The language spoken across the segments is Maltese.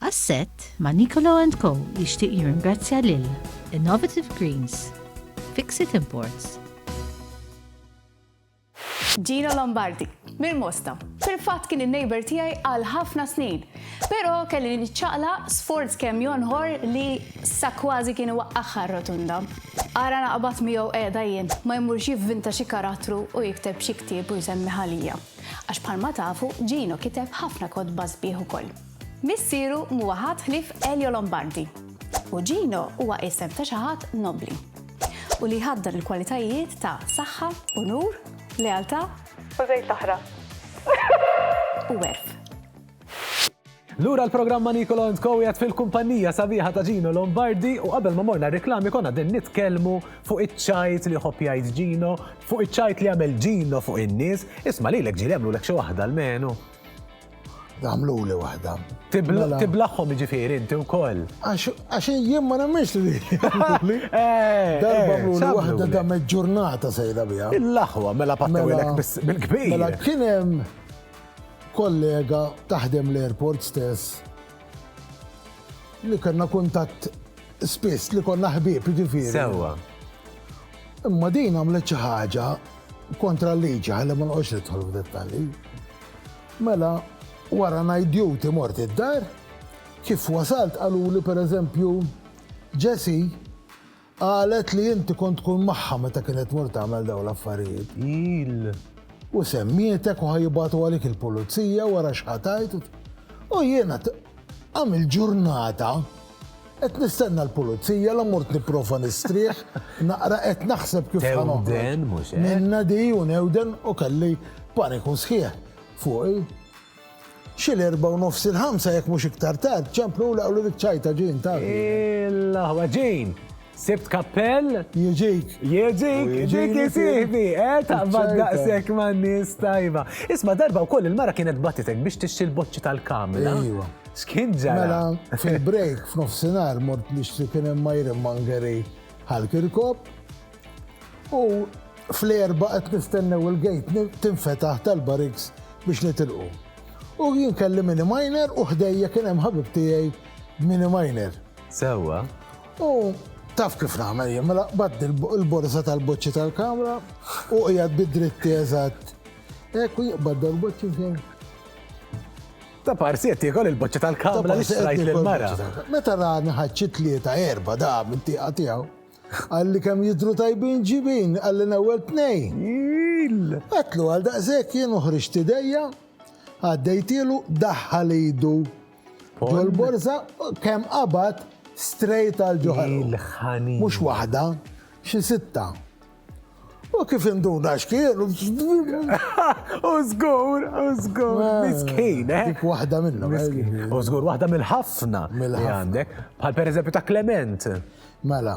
Għas-sett ma' Nicolo and Co jixtieq jirringrazzja lil Innovative Greens, Fixit Imports, Gino Lombardi, mill-Mosta. Fil-fatt kien in-neighbour tiegħi għal ħafna snin. Però kelli niċċaqlaq sforz kemm jonħor li sa kważi kien iwaqqagħha r-rotunda. Ara naqbad miegħu qiegħda jien, ma jmurx jivvinta xi karattru u jikteb xi ktieb u jsemmiha lija. Għax bħalma tafu, Gino kiteb ħafna kotba sbieħ ukoll. Missieru m'huwa ħadd ħlief Elio Lombardi. Uġino huwa isem ta' xi ħadd nobbli u li jħaddan il-kwalitajiet ta' saħħa, unur, lealtà, U żejt l-oħra. u għerf. Lura l-programm ma' Nicolo and Co qiegħed fil-kumpannija sabiħa ta' Gino Lombardi u qabel ma morna r-riklami konna qegħdin nitkellmu fuq iċ-ċajt li jħobb jgħid Gino, fuq iċ-ċajt li jagħmel Gino fuq in-nies. Isma' lilek ġieli għamlulek xi waħda almenu. Għamlu li wahda. Mela. Tiblaħħom ġifiri, inti u koll. Għax jien ma nemmiex li li. Eh, Darba eh, li wahda da ġurnata sejda bija. Il-laħwa, mela pattawilek mela. bil-kbir. Mela kienem kollega taħdem l-airport stess li kena kuntat spiss li konna ħbib ġifiri. Sewa. Imma din għamlet xi ħaġa kontra l-liġi ħalli ma nqgħodx nidħol f'dettalji. Mela wara night duty mort id-dar, kif wasalt qaluli per eżempju Jessie qalet li inti kont tkun magħha meta kienet tmur tagħmel dawn l-affarijiet. Iill. U semmietek u ħa jibagħtu għalik il-pulizija wara x'ħa tgħid u jiena tqam il-ġurnata Qed nistenna l-pulizija, la mort nipprova nistrieħ, naqra qed naħseb kif ħa noħroġ minnha di u newden u kelli paniku sħiħ fuqi. Xi l-erbgħa u nofs il-ħamsa jekk mhux iktar tard, ċemplu u laqgħuli ċ-ċajta Jean, taf. L-aħwa Jean! Sibt kappell? Jieġik. Jieġik, ġik jisihbi, eh, taqbad daqsek ma' nis tajba. Isma darba u koll il-mara kienet batitek biex tixxi l-boċċi tal-kamla. Ejwa. Skin ġara. Mela, fil-break, f'nofsinar, mort nixtri kien hemm Myron Mangeri ħal-kirkop. U fl-erba qed nistennew il-gejt tinfetaħ tal-bariks biex nitilqu. U jien kelli mini minor u ħdejja kien hemm ħabib tiegħi mini minor. Sewwa. U taf kif nagħmel jien, mela qbadt il-borsa tal-boċċi tal-kamra u qiegħed bid-dritti eżatt. Hekk u jiqbad dal-boċċi fejn. Ta' parsi qed tiekol il-boċċa tal-kamra li xtrajt lill-mara. Meta rani ħaċċi tlieta erba' da minn tieqa tiegħu. Għalli kemm jidru tajbin ġibin, għalli nawel tnejn. Għatlu għal daqshekk jien uħriġt idejja, għaddejtielu daħħal idu Ġol borza kemm qabad straight għal ġo ħanin. Mhux waħda, xi sitta. U kif induna xkien? U zgur, u zgur, eh, miskin, eh? Dik wahda minna, miskin. Eh. U zgur, wahda mill-ħafna. Mill-ħafna. Bħal per eżempju ta' Clement. Mela,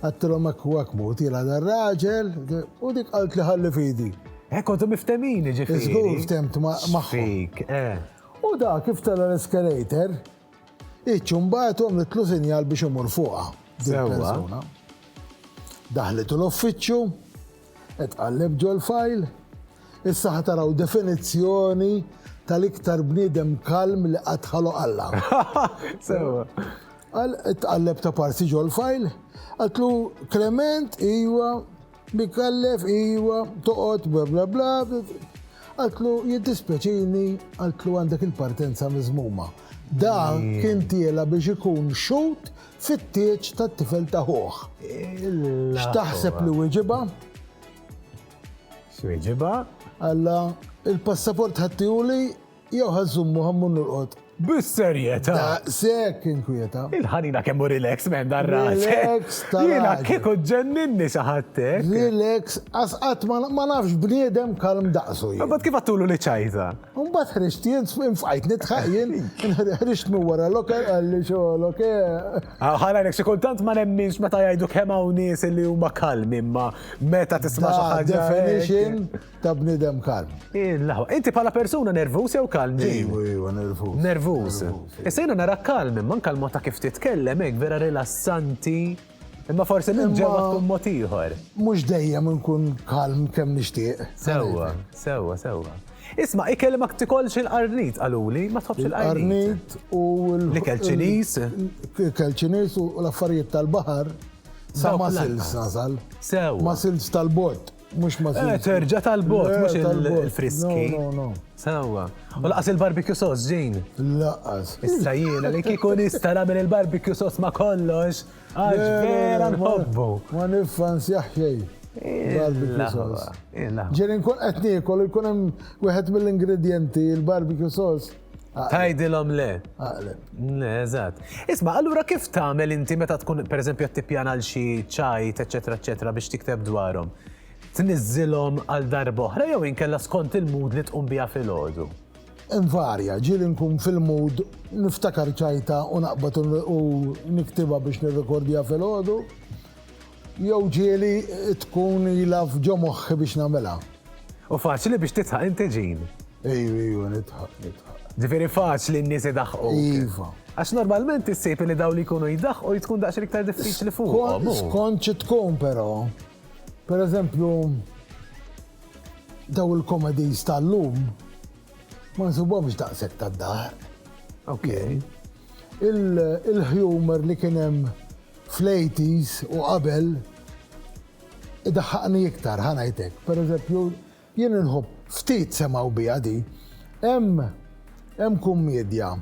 Għedtilhom hekk u hekk mut jilgħa dar-raġel u dik qaltli ħalli f'idi. Hekk kontu miftemin jiġifieri. Żgur ftemt magħhom. Fik, eh. U dak kif tela' l-eskalator, iċ imbagħad u għamlitlu sinjal biex imur fuqha. Sewwa. Daħlet l-uffiċċju, Tqalleb ġol-fajl. Issa ħa taraw definizzjoni tal-iktar bniedem kalm li qatt ħaloq Alla. Sewwa. Qal tqalleb ta' parsi ġol-fajl, qatlu Klement iwa, Mikallef iwa, toqgħod bla bla bla, qatlu jiddispjaċini qatlu għandek il-partenza miżmuma. Da kien tiela biex ikun xut fit-tieġ tat-tifel ta' ħuh. X'taħseb li wieġibha? X'wieġibha? Alla, il-passaport ħa ttiehuli jew ħa żżommu ħa mmur norqod? Bis-serjetà! Daqshekk inkwieta. Il-ħanina kemm hu relax minn dan ras. Relax ta' Jiena kieku ġenninni xi ħaddek. Relax, għax qatt ma nafx bniedem kalm daqsu. Imbagħad kif għattulu li ċajta? Mbagħad ħriġt jien, fqajt nidħaq jien, ħriġt minn wara loke, għalli xo loke. Ah, Ħalajnek, xi kultant ma nemminx meta jgħidu kemm hawn nies li huma kalmi, imma meta tisma' xi ħaġa. Definition ta' bnidem kalm. Inti bħala persuna nervuż jew kalm? Iwa, iwa, nervuż. Nervuż. Issa jiena nara kalm, imma nkalma ta' kif titkellem hekk vera rilassanti. Imma forsi minn ġewwa tkun mod ieħor. Mhux dejjem inkun kalm kemm nixtieq. Sewwa, sewwa, sewwa. Isma' ikel ma tikolx il-qarnit qaluli, ma tħobbx il-qarnit. u l-ikel Ċiniż. Ikel Ċiniż u l-affarijiet tal-baħar sa ma silx nasal. Sew. Ma silx tal-bot. Mux ma eh, Terġa tal-bot, mux il-friski. No, no, no. Sawa. U laqas il-barbecue sos, ġin. Laqas. Issa jiena li kikun ista namel il-barbecue sos ma kollox. Għax vera nħobbu. Ma nifans jaħjej. Barbecue sos. Ġirin kun etnikol, kun hemm wieħed mill-ingredienti, il-barbecue sos. Tajdilhom le. Aqleb. Le, eżatt. Isma, allura kif tagħmel inti meta tkun pereżempju qed tippjana għal xi ċajt, eċetera, eċetera, biex tikteb dwarhom? Tniżżilhom għal darba oħra jew inkella skont il-mood li tqum biha filgħodu? Invarja, ġieli nkun fil-mood niftakar ċajta u naqbad u niktibha biex nirrekordja filgħodu. Jew ġieli tkun ilha f'ġo moħħi biex nagħmilha. U faċli biex tidħaq inti Jean? Ejju, ejju, nidħaq, nidħaq. Ġifieri faċli n-nies idaħħquk? Iva. Għax normalment issib li dawn li jkunu jdaħħqu tkun daqsxejn iktar diffiċli fuqhom. Skont xi tkun però. Pereżempju, daw il-comedies tal-lum ma nsibhomx daqshekk tad-daħq. Ok. Il-humor li kien hemm fl-80s u qabel idaħħaqni iktar, ħa ngħid hekk. Pereżempju, jien inħobb ftit semgħu biha di. Hemm hemm kummedja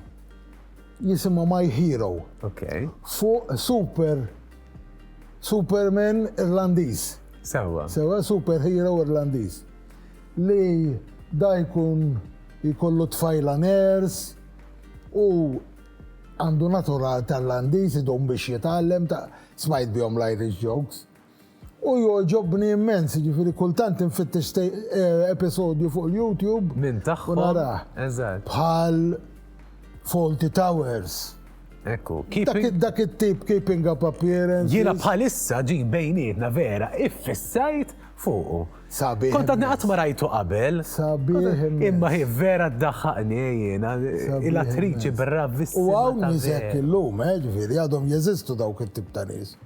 jisimha My Hero. Okay. Fuq super Superman Irlandiż. Sewa. Sewa superhero Irlandiż. Li da jkun jkollu tfajla ners u Għandu natural ta' Irlandiż idum biex jitgħallem ta' smajt bihom l-Irish jokes. U jogħġobni immens, jiġifieri kultant infittex episodju fuq il-YouTube. Minn tagħhom. Eżatt. Bħal Fawlty Towers. Ekku. Dak it-tip keeping up appearances. Jiena bħalissa ġie bejnietna vera iffissajt fuqu. Sabiħ. Kont għadni qatt ma rajtu qabel. Sabiħ immens. Imma hi vera ddaħħaqni jiena, hi l-attriċi bravissima ta' vera. U hawn nies hekk illum, eh, ġifieri għadhom jeżistu dawk it-tip ta' nies.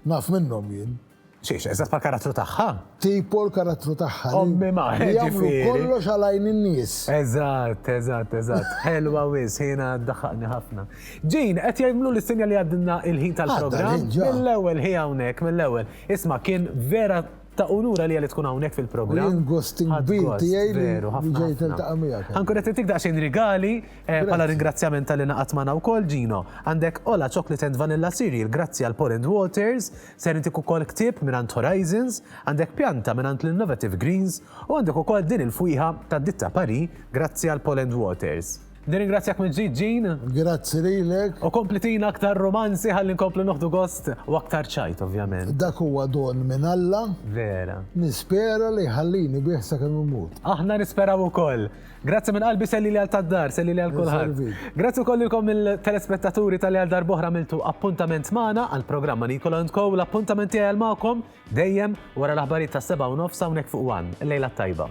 Naf minnhom jien. Xiex, eżatt bħal karattru tagħha. Tipo l-karattru tagħha. Ommi ma, ġifieri. Jagħmlu kollox għal għajn in-nies. Eżatt, eżatt, eżatt. Ħelwa wis, jiena ddaħħaqni ħafna. Jean, qed jgħidlu li sinja li għaddilna il-ħin tal-programm. Mill-ewwel hi hawnhekk, mill-ewwel. Isma' kien vera Ta' unur għalija li tkun hawnhekk fil-programm. U jien gost kbir tiegħi li ġejt niltaqa' miegħek. Anke qed nittik daqsxejn rigali bħala ringrazzjament talli naqadt magħna wkoll, Gino. Għandek Ola Chocolate and Vanilla Cereal grazzi għal Paul and Walters, ser intik ukoll ktieb mingħand Horizons, għandek pjanta mingħand l-Innovative Greens u għandek ukoll din il-fwieħa tad-ditta Paris grazzi għal Paul and Walters. Nirringrazzjak mill-ġdid Jean. Grazzi lilek. U kompli tina aktar romanzi ħalli nkomplu noħdu gost u aktar ċajt ovvjament. Dak huwa don minn Alla. Vera. Nispera li jħallini bih sakemm immut. Aħna nisperaw ukoll. Grazzi minn qalbi sellili għal tad-dar, sellili għal kulħadd. Grazzi wkoll lilkom il-telespettaturi tal għal darbohra miltu appuntament magħna għal programma Nikola and Co. L-appuntament tiegħi għal magħkom dejjem wara l-aħbarijiet tas-7 u nofs hawnhekk fuq One. Lejla tajba.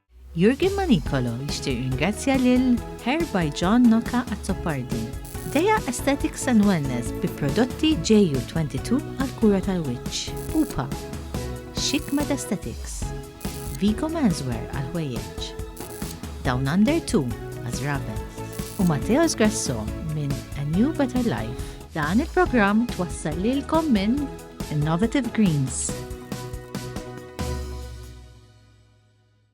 Jurgen Manicolo jixtieq jirringrazzja lil Hair by John Noka Azzopardi, Dea Aesthetics and Wellness bi prodotti JU22 għall-kura tal-wiċċ, Pupa, Chic Med Aesthetics, Vigo Menswear għall-ħwejjeġ, Down Under 2 għaż-żraben, u Mateos Grasso minn A New Better Life. Dan il-programm twassal lilkom minn Innovative Greens.